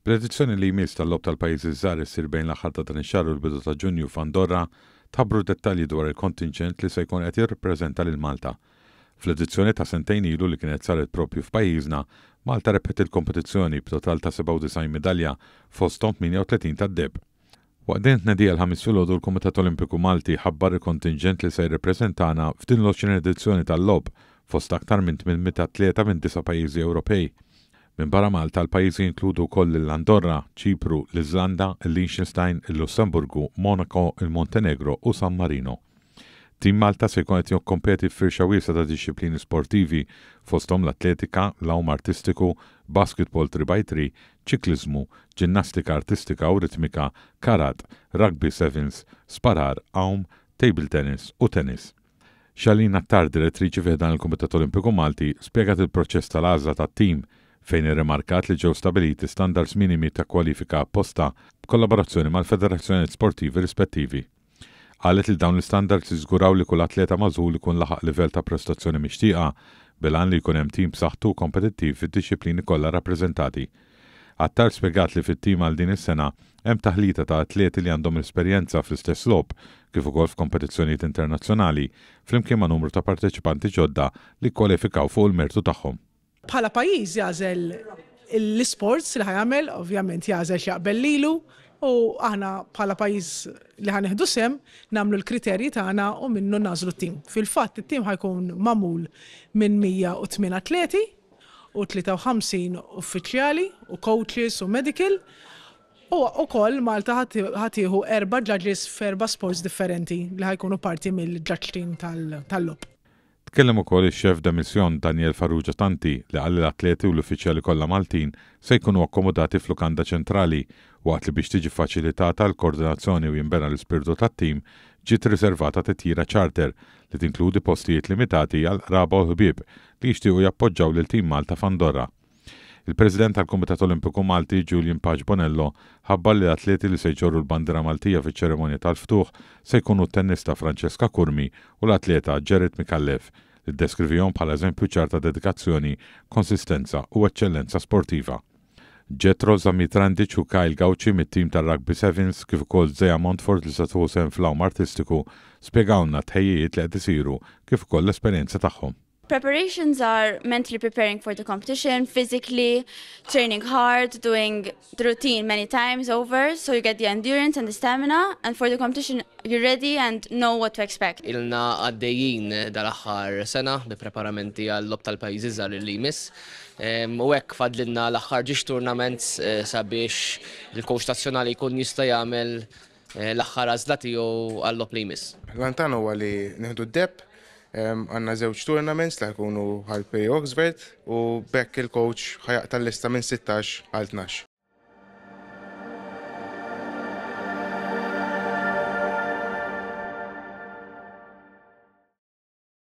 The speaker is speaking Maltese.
Bl-edizzjoni li jmiss tal-Logħob tal-Pajjiżi ż-Żgħar issir bejn l-aħħar ta' dan ix-xahar u l-bidu ta' Ġunju f'Andorra, tħabbru dettalji dwar il-kontinġent li se jkun qed jirrappreżenta lil Malta. Fl-edizzjoni ta' sentejn ilu li kienet saret proprju f'pajjiżna, Malta rebħet il-kompetizzjoni b'total ta' 97 midalja fosthom 38 tad-deheb. Waqt din it-tnedija l-Ħamis filgħodu l-Kumitat Olimpiku Malti ħabbar il-kontinġent li se jirrepreżentana f'din l-20 edizzjoni tal-Logħob fost aktar minn 800 atleta minn disa' pajjiżi Ewropej. Minbarra Malta l-pajjiżi jinkludu wkoll lil Andorra, Ċipru, l-Iżlanda, il-Liechtenstein, il-Lussemburgu, Monaco, il-Montenegro u San Marino. Team Malta se jkun qed jikkompeti f'firxa wiesgħa ta' dixxiplini sportivi, fosthom l-atletika, l-għum artistiku, basketball three by three, ċikliżmu, ġinnastika artistika u ritmika, karat, rugby sevens, sparar, għawm, table tennis u tennis. Shalene Attar, direttriċi fi ħdan il-Kumitat Olimpiku Malti, spjegat il-proċess tal-għażla tat-tim, fejn irrimarkat li ġew stabiliti standards minimi ta' kwalifika apposta b'kollaborazzjoni mal-federazzjonijiet sportivi rispettivi. Qalet li dawn l-istandards jiżguraw li kull atleta magħżul ikun laħaq livell ta' prestazzjoni mixtieqa, bil-għan li jkun hemm tim b'saħħtu u kompetittiv fid-dixxiplini kollha rrappreżentati. Attard spjegat li fit-tim għal din is-sena hemm taħlita ta' atleti li għandhom esperjenza fl-istess logħob kif ukoll f'kompetizzjonijiet internazzjonali, flimkien ma' numru ta' parteċipanti ġodda li kkwalifikaw fuq il-mertu tagħhom. Bħala pajjiż jagħżel l-isports li ħa jagħmel, ovvjament jagħżel x'jaqbel lilu u aħna bħala pajjiż li ħa nieħdu sehem nagħmlu l-kriterji tagħna u minnu nagħżlu t-tim. Fil-fatt it-tim ħa jkun magħmul minn 108 atleti u 53 uffiċjali u coaches u medical u wkoll Malta ħa tieħu erba' judges f'erba' sports differenti li ħa jkunu parti mill-judge team tal-logħob. Tkellem ukoll ix-Chef de Mission Daniel Farrugia Tanti li qal li l-atleti u l-uffiċjali kollha Maltin se jkunu akkomodati f'lukanda ċentrali, waqt li biex tiġi ffaċilitata l-koordinazzjoni u jinbena l-ispirtu tat-tim, ġiet riservata titjira charter li tinkludi postijiet limitati għall-qraba u l-ħbieb li jixtiequ jappoġġaw lil Team Malta f'Andorra. Il-President tal-Kumitat Olimpiku Malti, Julian Paċ Bonello, ħabbar li l-atleti li se jġorru l-bandiera Maltija fiċ-ċerimonja tal-ftuħ se jkunu t-tennista Francesca Curmi u l-atleta Gerrit Micallef, li ddeskrivihom bħala eżempju ċar ta' dedikazzjoni, konsistenza u eċċellenza sportiva. Jethro Zamitrandic u Kyle Gauci mit-tim tar-Rugby Sevens kif ukoll Zea Montfort li se tieħu sehem fl-għawm artistiku spjegawlna t-tħejjijiet li qed isiru kif ukoll l-esperjenza tagħhom. Preparations are mentally preparing for the competition, physically, training hard, doing the routine many times over, so you get the endurance and the stamina, and for the competition you're ready and know what to expect. Ilna għaddejjin dal-aħħar sena bi preparamenti għal-lob tal-pajjiżi żgħar li jmiss. U hekk fadlilna l-aħħar ġiex tournaments sabiex il-coach nazzjonali jkun jista' jagħmel l-aħħar għażla tiegħu għal-logħob li jmiss. L-għan tagħna huwa li nieħdu d-deheb, għandna żewġ tournaments li ħa jkunu għal Peri Oxford u b'hekk il-coach ħa jaqta' l-lista minn sittax għal tnax.